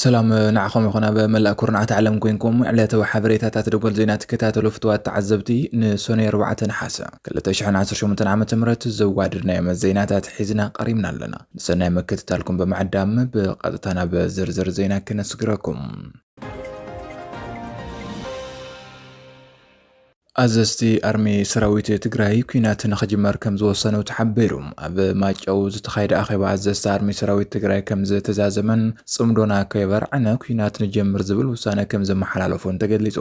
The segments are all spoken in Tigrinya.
ሰላም ንዓኹም ይኹን ኣብ መላእ ኩርናዓት ዓለም ኮንኩም ዕለታዊ ሓበሬታታት ደጎል ዜና ትከታተሉ ፍትዋት ተዓዘብቲ ንሶነይ 4 ነሓሰ 2018 ዓ ም ዘዋድድናዮም ዜናታት ሒዝና ቀሪብና ኣለና ንሰናይ ምክትታልኩም ብምዕዳም ብቐጥታ ናብ ዝርዝር ዜና ክነስግረኩም። ኣዘዝቲ ኣርሚ ሰራዊት ትግራይ ኩናት ንክጅመር ከም ዝወሰኑ ተሓቢሩ። ኣብ ማጨው ዝተኻየደ ኣኼባ ኣዘዝቲ ኣርሚ ሰራዊት ትግራይ ከም ዝተዛዘመን ጽምዶና ከይበርዕነ ኩናት ንጀምር ዝብል ውሳነ ከም ዘመሓላለፉን ተገሊጹ።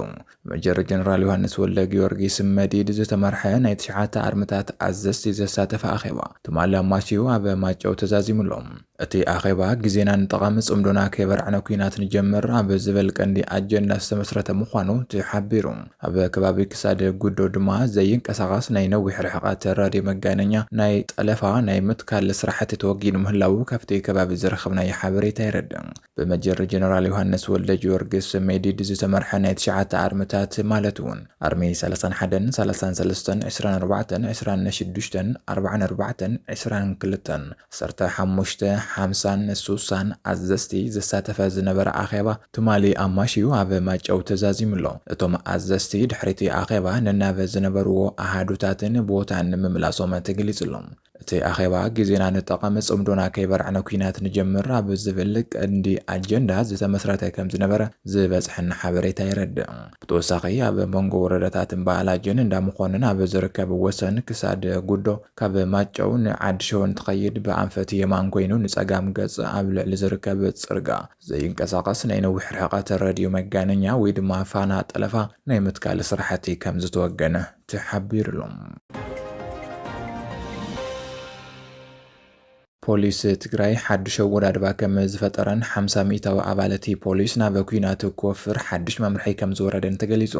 መጀር ጀነራል ዮሃንስ ወልደጊዮርጊስ መዲድ ዝተመርሐ ናይ ትሽዓተ ኣርምታት ኣዘዝቲ ዘሳተፈ ኣኼባ ትማሊ ኣማሲዩ ኣብ ማይጨው ተዛዚሙ ኣሎ። እቲ ኣኼባ ግዜና ንጠቐም ጽምዶና ከየበርዕና ኲናት ንጀምር ኣብ ዝብል ቀንዲ ኣጀንዳ ዝተመስረተ ምዃኑ ተሓቢሩ። ኣብ ከባቢ ክሳድ ጉዶ ድማ ዘይንቀሳቐስ ናይ ነዊሕ ርሕቐት ራድዮ መጋነኛ ናይ ጠለፋ ናይ ምትካል ስራሕቲ ተወጊኑ ምህላዉ ካብቲ ከባቢ ዝረኸብናዮ ሓበሬታ የረድእ። ብመጀር ጀነራል ዮሃንስ ወልደጅወርግስ፣ ሜዲድ፣ ዝተመርሐ ናይ ትሽዓተ ኣርምታት ማለት እውን ኣርሚ ሰላሳን ሓደን፣ ሰላሳን ሰለስተን፣ ዕስራን ኣርባዕተን፣ ዕስራን ነሽዱሽተን፣ ኣርባዓን ኣርባዕተን፣ ዕስራን ክልተን፣ ዓሰርተ ሓሙሽተ፣ ሓምሳን ሱሳን ኣዘዝቲ ዘሳተፈ ዝነበረ ኣኼባ ትማሊ ኣማሽዩ ኣብ ማይጨው ተዛዚሙ ኣሎ። እቶም ኣዘዝቲ ድሕሪ'ቲ ኣኼባ ነናብ ዝነበርዎ ኣሃዱታትን ቦታን ምምላሶም ተገሊፁ ኣሎ። እቲ ኣኼባ ግዜና ንጠቐም ጽምዶና ከይበርዕነ ኩናት ንጀምር ኣብ ዝብል ቀንዲ ኣጀንዳ ዝተመስረተ ከምዝነበረ ዝበጽሐና ሓበሬታ የረድእ። ብተወሳኺ ኣብ መንጎ ወረዳታት እምባ ኣላጅን እንዳ መኾንን ኣብ ዝርከብ ወሰን ክሳድ ጉዶ ካብ ማጨው ንዓዲ ሸወን ትኸይድ ብኣንፈት የማን ኮይኑ ንጸጋም ገጽ ኣብ ልዕሊ ዝርከብ ጽርጋ ዘይንቀሳቐስ ናይ ነዊሕ ርሕቐት ረድዮ መጋነኛ ወይ ድማ ፋና ጠለፋ ናይ ምትካል ስራሕቲ ከምዝተወገነ ተሓቢሩሉ። ፖሊስ ትግራይ ሓዱሽ ኣወዳድባ ከም ዝፈጠረን ሓምሳ ሚእታዊ ኣባልቲ ፖሊስ ናብ ኩናት ኮፍር ሓዱሽ መምርሒ ከም ዝወረደን ተገሊጹ።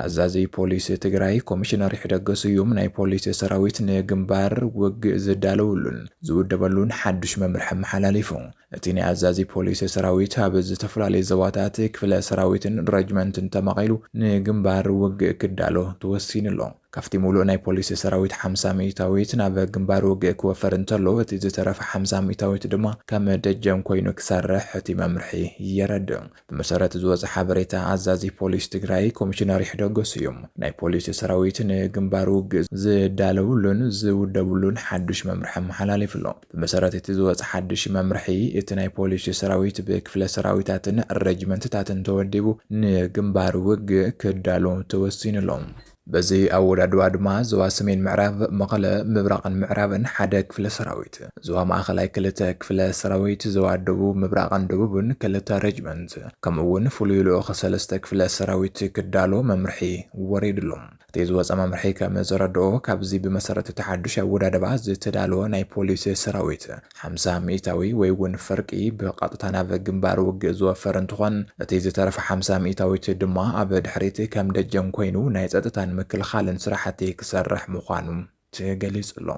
ኣዛዚ ፖሊስ ትግራይ ኮሚሽነር ይሕደግ ስዩም ናይ ፖሊስ ሰራዊት ንግምባር ውግእ ዝዳለወሉን ዝውደበሉን ሓዱሽ መምርሒ ኣመሓላሊፉ። እቲ ናይ ኣዛዚ ፖሊስ ሰራዊት ኣብ ዝተፈላለዩ ዞባታት፣ ክፍለ ሰራዊትን ረጅመንትን ተማቒሉ ንግምባር ውግእ ክዳሎ ተወሲኑ ኣሎ። ካብቲ ሙሉእ ናይ ፖሊስ ሰራዊት ሓምሳ ሚኢታዊት ናብ ግምባር ውግእ ክወፈር እንተሎ እቲ ዝተረፈ ሓምሳ ሚኢታዊት ድማ ከም ደጀን ኮይኑ ክሰርሕ እቲ መምርሒ የረድእ። ብመሰረት እዚ ዝወፀ ሓበሬታ ኣዛዚ ፖሊስ ትግራይ ኮሚሽነር ይሕደጎ ስዩም ናይ ፖሊስ ሰራዊት ንግንባር ውግእ ዝዳለውሉን ዝውደብሉን ሓዱሽ መምርሒ ኣመሓላሊፉ ኣሎ። ብመሰረት እቲ ዝወፀ ሓዱሽ መምርሒ እቲ ናይ ፖሊስ ሰራዊት ብክፍለ ሰራዊታትን ረጅመንትታትን ተወዲቡ ንግንባር ውግእ ክዳሎ ተወሲኑ ኣሎ። በዚ ኣወዳድባ ድማ ዞባ ሰሜን ምዕራብ፣ መቐለ፣ ምብራቕን ምዕራብን፣ ሓደ ክፍለ ሰራዊት፣ ዞባ ማእኸላይ ክልተ ክፍለ ሰራዊት፣ ዞባ ደቡብ፣ ምብራቕን ደቡብን፣ ክልተ ሬጅመንት፣ ከምኡ እውን ፍሉይ ልኡኽ ሰለስተ ክፍለ ሰራዊት ክዳሎ መምርሒ ወሪድሎም። እቲ ዝወፀ መምርሒ ከም ዘረድኦ፣ ካብዚ ብመሰረት እቲ ሓዱሽ ኣወዳድባ ዝተዳለወ ናይ ፖሊስ ሰራዊት፣ ሓምሳ ሚኢታዊ ወይ እውን ፍርቂ ብቐጥታ ናብ ግንባር ውግእ ዝወፈር እንትኾን እቲ ዝተረፈ ሓምሳ ሚኢታዊት ድማ ኣብ ድሕሪት ከም ደጀን ኮይኑ ናይ ፀጥታን ምክልኻልን ስራሕቲ ክሰርሕ ምዃኑ ተገሊፁ ኣሎ።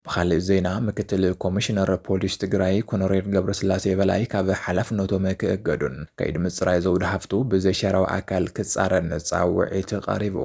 ብኻሊእ ዜና ምክትል ኮሚሽነር ፖሊስ ትግራይ ኮኖሬል ገብረስላሴ በላይ ካብ ሓላፍነቶም ክእገዱን ከይዲ ምፅራይ ዘውዲ ሃፍቱ ብዘይሻራዊ ኣካል ክፃረን ፃውዒት ቐሪቡ።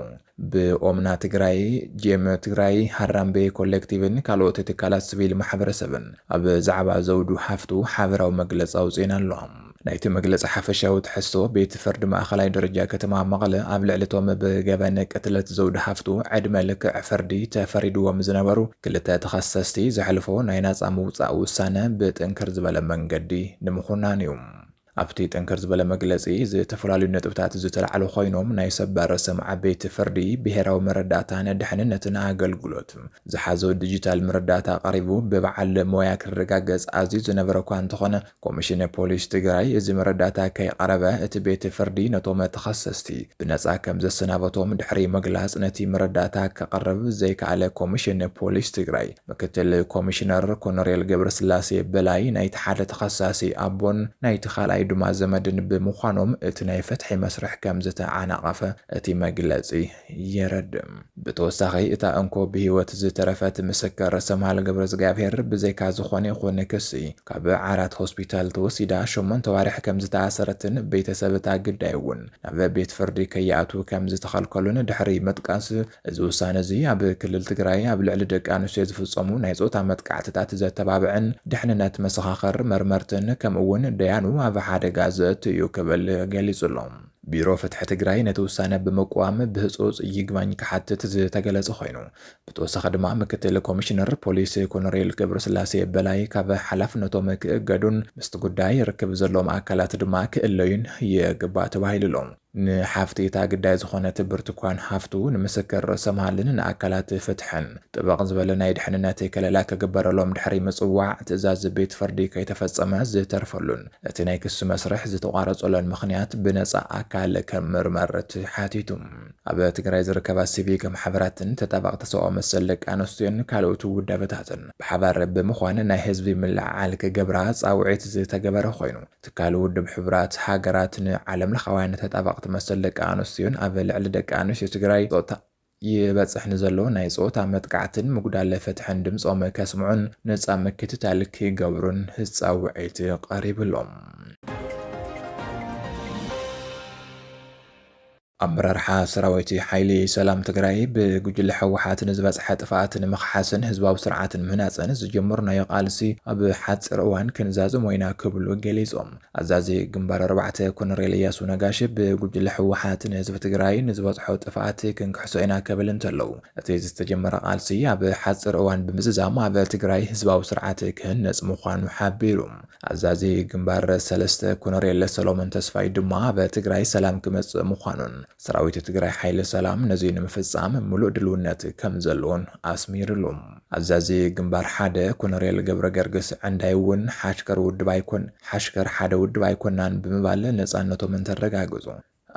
ብኦምና ትግራይ፣ ጄም ትግራይ፣ ሃራምቤ ኮሌክቲቭን ካልኦት ትካላት ስቪል ማሕበረሰብን ኣብ ዛዕባ ዘውዱ ሓፍቱ ሓበራዊ መግለፂ ኣውፂኤን ኣለዋ። ናይቲ መግለፂ ሓፈሻዊ ትሕዝቶ፣ ቤት ፍርዲ ማእኸላይ ደረጃ ከተማ መቐለ ኣብ ልዕሊ እቶም ብገበን ቅትለት ዘውዱ ሓፍቱ ዕድመ ልክዕ ፍርዲ ተፈሪድዎም ዝነበሩ ክልተ ተኸሰስቲ ዘሕልፎ ናይ ናፃ ምውፃእ ውሳነ ብጥንክር ዝበለ መንገዲ ንምኹናን እዩ። ኣብቲ ጥንክር ዝበለ መግለጺ ዝተፈላለዩ ነጥብታት ዝተላዕሉ ኮይኖም ናይ ሰበር ርእሰም ዓበይቲ ፍርዲ፣ ብሄራዊ መረዳእታን ድሕንነትን ኣገልግሎት ዝሓዞ ዲጂታል መረዳእታ ቀሪቡ ብበዓል ሞያ ክረጋገጽ ኣዝዩ ዝነበረ እኳ እንተኾነ ኮሚሽን ፖሊስ ትግራይ እዚ መረዳእታ ከይቐረበ እቲ ቤት ፍርዲ ነቶም ተኸሰስቲ ብነጻ ከምዘሰናበቶም ድሕሪ ምግላጽ ነቲ መረዳእታ ከቕርብ ዘይከኣለ ኮሚሽን ፖሊስ ትግራይ ምክትል ኮሚሽነር ኮነሬል ገብረስላሴ በላይ ናይቲ ሓደ ተኸሳሲ ኣቦን ናይቲ ካልኣይ ድማ ዘመድን ብምዃኖም እቲ ናይ ፍትሒ መስርሕ ከምዝተዓናቐፈ እቲ መግለፂ የረድእ። ብተወሳኺ እታ እንኮ ብህይወት ዝተረፈት ምስክር ሰምሃል ገብረእዝግኣብሄር ብዘይካ ዝኾነ ይኹን ክሲ ካብ ዓራት ሆስፒታል ተወሲዳ ሸሞንተ ኣዋርሕ ከምዝተኣሰረትን ቤተሰብ እታ ግዳይ እውን ናብ ቤት ፍርዲ ከይኣትዉ ከምዝተኸልከሉን ድሕሪ ምጥቃስ እዚ ውሳነ እዚ ኣብ ክልል ትግራይ ኣብ ልዕሊ ደቂ ኣንስትዮ ዝፍፀሙ ናይ ፆታ መጥቃዕትታት ዘተባብዕን ድሕንነት መሰኻኸር፣ መርመርትን ከምኡ እውን ደያኑ ኣብ ሓደጋ ዘእቱ እዩ ክብል ገሊፁ ኣሎ። ቢሮ ፍትሒ ትግራይ ነቲ ውሳነ ብምቅዋም ብህፁፅ ይግባኝ ክሓትት ዝተገለፀ ኮይኑ ብተወሳኺ ድማ ምክትል ኮሚሽነር ፖሊስ ኮሎኔል ገብረስላሴ በላይ ካብ ሓላፍነቶም ክእገዱን ምስቲ ጉዳይ ርክብ ዘለዎም ኣካላት ድማ ክእለዩን ይግባእ ተባሂሉ ኣሎ። ንሓፍቲ እታ ግዳይ ዝኾነት ብርቱኳን ሃፍቱ፣ ንምስክር ርእሰ መሃልን ንኣካላት ፍትሕን ጥብቕ ዝበለ ናይ ድሕንነት ከለላ ክግበረሎም ድሕሪ ምጽዋዕ፣ ትእዛዝ ቤት ፍርዲ ከይተፈጸመ ዝተርፈሉን እቲ ናይ ክሲ መስርሕ ዝተቋረጸሎን ምኽንያት ብነጻ ኣካል ክምርመርት ሓቲቱ። ኣብ ትግራይ ዝርከባ ሲቪክ ማሕበራትን ተጣባቕቲ ሰብኣዊ መሰል ደቂ ኣንስትዮን ካልኦት ውዳበታትን ብሓባር ብምዃን ናይ ህዝቢ ምልዕዓል ክገብራ ጻውዒት ዝተገበረ ኮይኑ፣ ትካል ውድብ ሕቡራት ሃገራት ንዓለምለኻውያን ተጣበቕቲ መሰል ደቂ ኣንስትዮን ኣብ ልዕሊ ደቂ ኣንስትዮ ትግራይ ፆታ ይበፅሕ ንዘሎ ናይ ፆታ መጥቃዕትን ምጉዳለ ፍትሕን ድምፆም ከስምዑን ነፃ ምክትታል ክገብሩን ፃውዒት ቐሪብሎም። ኣመራርሓ ሰራዊት ሓይሊ ሰላም ትግራይ ብጉጅለ ህወሓት ንዝበፅሐ ጥፍኣት ንምኽሓስን ህዝባዊ ስርዓት ንምህናፅን ዝጀመርናዮ ቃልሲ ኣብ ሓፂር እዋን ክንዛዝሞ ኢና ክብሉ ገሊፆም። ኣዛዚ ግንባር ኣርባዕተ ኮነሬል እያሱ ነጋሽ ብጉጅለ ህወሓት ንህዝቢ ትግራይ ንዝበፅሖ ጥፍኣት ክንክሕሶ ኢና ከብል እንተለው እቲ ዝተጀመረ ቃልሲ ኣብ ሓፂር እዋን ብምዝዛም ኣብ ትግራይ ህዝባዊ ስርዓት ክህነፅ ምዃኑ ሓቢሩ። ኣዛዚ ግንባር ሰለስተ ኮነሬል ሰሎሞን ተስፋይ ድማ ኣብ ትግራይ ሰላም ክመፅእ ምዃኑን ሰራዊት ትግራይ ሓይሊ ሰላም ነዙይ ንምፍፃም ሙሉእ ድልውነት ከምዘለዎን ኣስሚርሉ። ኣዛዚ ግንባር ሓደ ኮነሬል ገብረገርግስ ዕንዳይ እውን ሓሽከር ውድብ ኣይኮን ሓሽከር ሓደ ውድብ ኣይኮናን ብምባል ነፃነቶም እንተረጋገፁ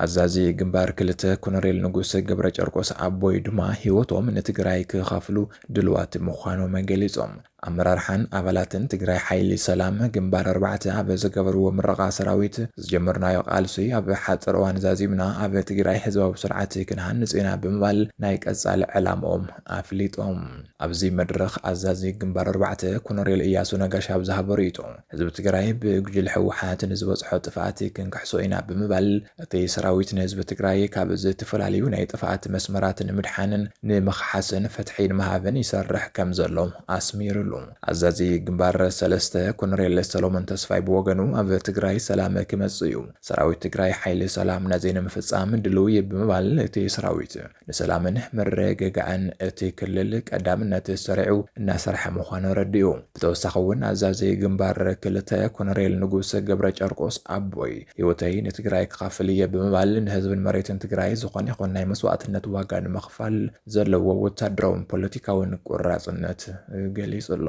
ኣዛዚ ግንባር ክልተ ኮነሬል ንጉሰ ገብረጨርቆስ ኣቦይ ድማ ህይወቶም ንትግራይ ክኸፍሉ ድልዋት ምዃኖም ገሊፆም። ኣመራርሓን ኣባላትን ትግራይ ሓይሊ ሰላም ግንባር ኣርባዕተ ኣብ ዝገበርዎ ምረቓ ሰራዊት ዝጀመርናዮ ቃልሲ ኣብ ሓፂር እዋን ዛዚምና ኣብ ትግራይ ህዝባዊ ስርዓት ክንሃንፅ ኢና ብምባል ናይ ቀፃሊ ዕላምኦም ኣፍሊጦም። ኣብዚ መድረኽ ኣዛዚ ግንባር ኣርባዕተ ኮነሬል እያሱ ነጋሽ ኣብ ዝሃቦ ሪኢቶ፣ ህዝቢ ትግራይ ብጉጅለ ህወሓት ንዝበፅሖ ጥፍኣት ክንክሕሶ ኢና ብምባል እቲ ሰራዊት ንህዝቢ ትግራይ ካብ ዝተፈላለዩ ናይ ጥፍኣት መስመራት ንምድሓንን ንምኽሓስን ፍትሒ ንምሃብን ይሰርሕ ከምዘሎ ኣስሚርሉ። ኣዛዚ ግንባር ሰለስተ ኮነሬል ሰሎሞን ተስፋይ ብወገኑ ኣብ ትግራይ ሰላም ክመፅእ እዩ፣ ሰራዊት ትግራይ ሓይሊ ሰላምና ዘይንምፍፃም ድልው እዩ ብምባል እቲ ሰራዊት ንሰላምን ምርግጋዕን እቲ ክልል ቀዳምነት ሰሪዑ እናሰርሐ ምዃኑ ኣረዲኡ። ብተወሳኺ እውን ኣዛዚ ግንባር ክልተ ኮነሬል ንጉስ ገብረጨርቆስ ኣቦይ ህይወተይ ንትግራይ ክኸፍል እየ ብምባል ንህዝብን መሬትን ትግራይ ዝኾነ ይኹን ናይ መስዋእትነት ዋጋ ንምኽፋል ዘለዎ ወታደራውን ፖለቲካውን ቆራፅነት ገሊፁ ኣሎ።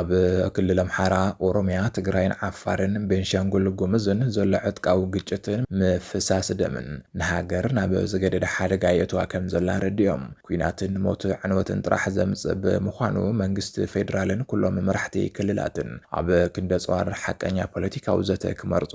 ኣብ ክልል ኣምሓራ፣ ኦሮምያ፣ ትግራይን ዓፋርን ቤንሻንጉል ጉምዝን ዘሎ ዕጥቃዊ ግጭትን ምፍሳስ ደምን ንሃገር ናብ ዝገደደ ሓደጋ የእትዋ ከምዘሎ ኣረዲኦም። ኲናትን ሞት ዕንወትን ጥራሕ ዘምጽእ ብምዃኑ መንግስቲ ፌደራልን ኩሎም መራሕቲ ክልላትን ኣብ ክንዲ ኣጽዋር ሓቀኛ ፖለቲካዊ ዘተ ክመርጹ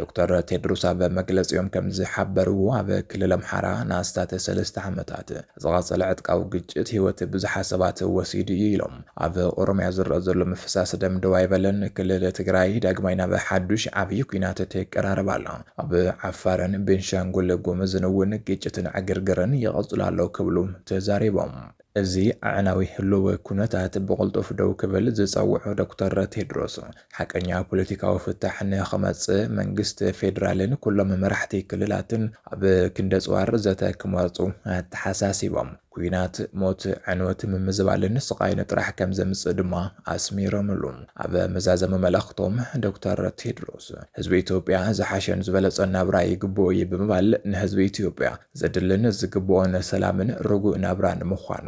ዶክተር ቴድሮስ ኣብ መግለፂኦም ከምዝሓበርዎ፣ ኣብ ክልል ኣምሓራ ንኣስታት ሰለስተ ዓመታት ዝቐፀለ ዕጥቃዊ ግጭት ህይወት ብዙሓት ሰባት ወሲዱ ኢዩ ኢሎም። ኣብ ኦሮሚያ ዝረኣ ዘሎ ምፍሳስ ደም ደው ኣይበለን፣ ክልል ትግራይ ዳግማይ ናብ ሓዱሽ ዓብዪ ኲናት ትቀራረብ ኣላ፣ ኣብ ዓፋርን ቤንሻንጉል ጉምዝን እውን ግጭትን ዕግርግርን ይቕፅሉ ኣሎ ክብሉ ተዛሪቦም። እዚ ኣዕናዊ ህልዊ ኩነታት ብቕልጡፍ ደው ክብል ዝጸውዑ ዶክተር ቴድሮስ፣ ሓቀኛ ፖለቲካዊ ፍታሕ ንኽመጽእ መንግስቲ ፌደራልን ኩሎም መራሕቲ ክልላትን ኣብ ክንደጽዋር ዘተ ክመርጹ ኣተሓሳሲቦም። ኲናት፣ ሞት፣ ዕንወት፣ ምምዝባልን ስቓይን ጥራሕ ከምዘምጽእ ድማ ኣስሚሮምሉ። ኣብ መዛዘሚ መልእኽቶም ዶክተር ቴድሮስ፣ ህዝቢ ኢትዮጵያ ዝሓሸን ዝበለጸን ናብራ ይግብኦ'ዩ ብምባል ንህዝቢ ኢትዮጵያ፣ ዘድልን ዝግብኦን ሰላምን ርጉእ ናብራን ምዃኑ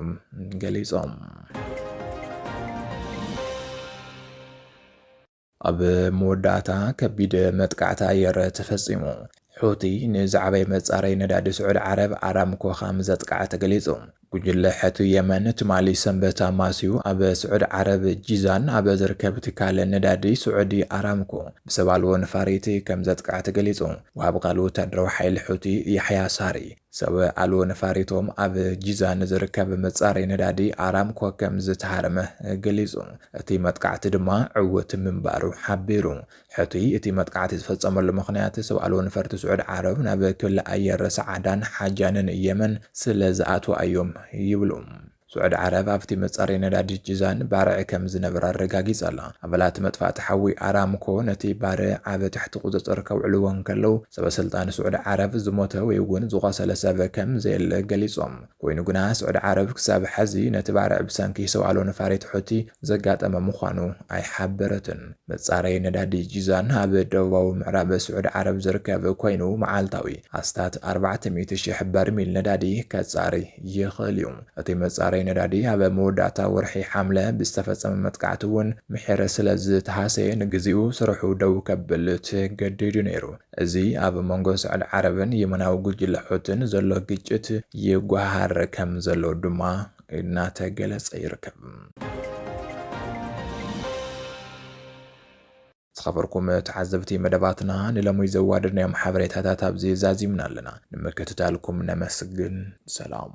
ገሊፆም። ኣብ መወዳእታ ከቢድ መጥቃዕቲ ኣየር ተፈፂሙ። ሑቲ ንዝዓበየ መፃረይ ነዳዲ ስዑድ ዓረብ ኣራምኮ ከም ዘጥቅዐ ተገሊፁ። ጉጅለ ሕቲ የመን ትማሊ ሰንበት ኣማስዩ ኣብ ስዑድ ዓረብ ጂዛን ኣብ ዝርከብ ትካል ነዳዲ ስዑዲ ኣራምኮ ብሰብ ኣልቦ ነፋሪት ከም ዘጥቅዐ ተገሊጹ። ወሃቢ ቃል ወተሃደራዊ ሓይሊ ሑቲ ያሕያ ሳሪ፣ ሰብ ኣልቦ ነፋሪቶም ኣብ ጂዛን ዝርከብ መጻረዪ ነዳዲ ኣራምኮ ከም ዝተሃርመ ገሊጹ፣ እቲ መጥቃዕቲ ድማ ዕዉት ምንባሩ ሓቢሩ። ሕቱይ እቲ መጥቃዕቲ ዝፈጸመሉ ምኽንያት ሰብ ኣልቦ ነፈርቲ ስዑድ ዓረብ ናብ ክሊ ኣየር ሰዓዳን ሓጃንን የመን ስለ ዝኣትዋ እዮም ይብሉ። ስዑድ ዓረብ ኣብቲ መጻረዪ ነዳዲ ጂዛን ባርዕ ከም ዝነበረ ኣረጋጊጻ ኣላ። ኣባላት መጥፋእቲ ሓዊ ኣራምኮ ነቲ ባርዕ ኣብ ትሕቲ ቁጽጽር ከውዕልዎ እንከለዉ ሰበ ስልጣን ስዑድ ዓረብ ዝሞተ ወይ'ውን ዝቖሰለ ሰብ ከም ዘየለ ገሊጾም። ኮይኑ ግና ስዑዲ ዓረብ ክሳብ ሐዚ ነቲ ባርዕ ብሰንኪ ሰውኣሎ ነፋሪት ሑቲ ዘጋጠመ ምዃኑ ኣይሓበረትን። መፃረዪ ነዳዲ ጂዛን ኣብ ደቡባዊ ምዕራብ ስዑዲ ዓረብ ዝርከብ ኮይኑ መዓልታዊ ኣስታት ኣርባዕተ ሚእቲ ሺሕ በርሚል ነዳዲ ከፃሪ ይኽእል እዩ። እቲ መፃረዪ ነዳዲ ኣብ መወዳእታ ወርሒ ሓምለ ብዝተፈፀመ መጥቃዕቲ እውን ምሒር ስለዝተሃሰየ ንግዚኡ ስርሑ ደው ከብል ተገዲዱ ነይሩ። እዚ ኣብ መንጎ ስዑድ ዓረብን የመናዊ ጉጅለ ሑቲን ዘሎ ግጭት ይጓሃር ከም ዘሎ ድማ እናተገለጸ ይርከብ። ዝኸበርኩም ተዓዘብቲ መደባትና ንለሙይ ዘዋደድናዮም ሓበሬታታት ኣብዚ ዛዚምና ኣለና። ንምክትታልኩም ነመስግን። ሰላም።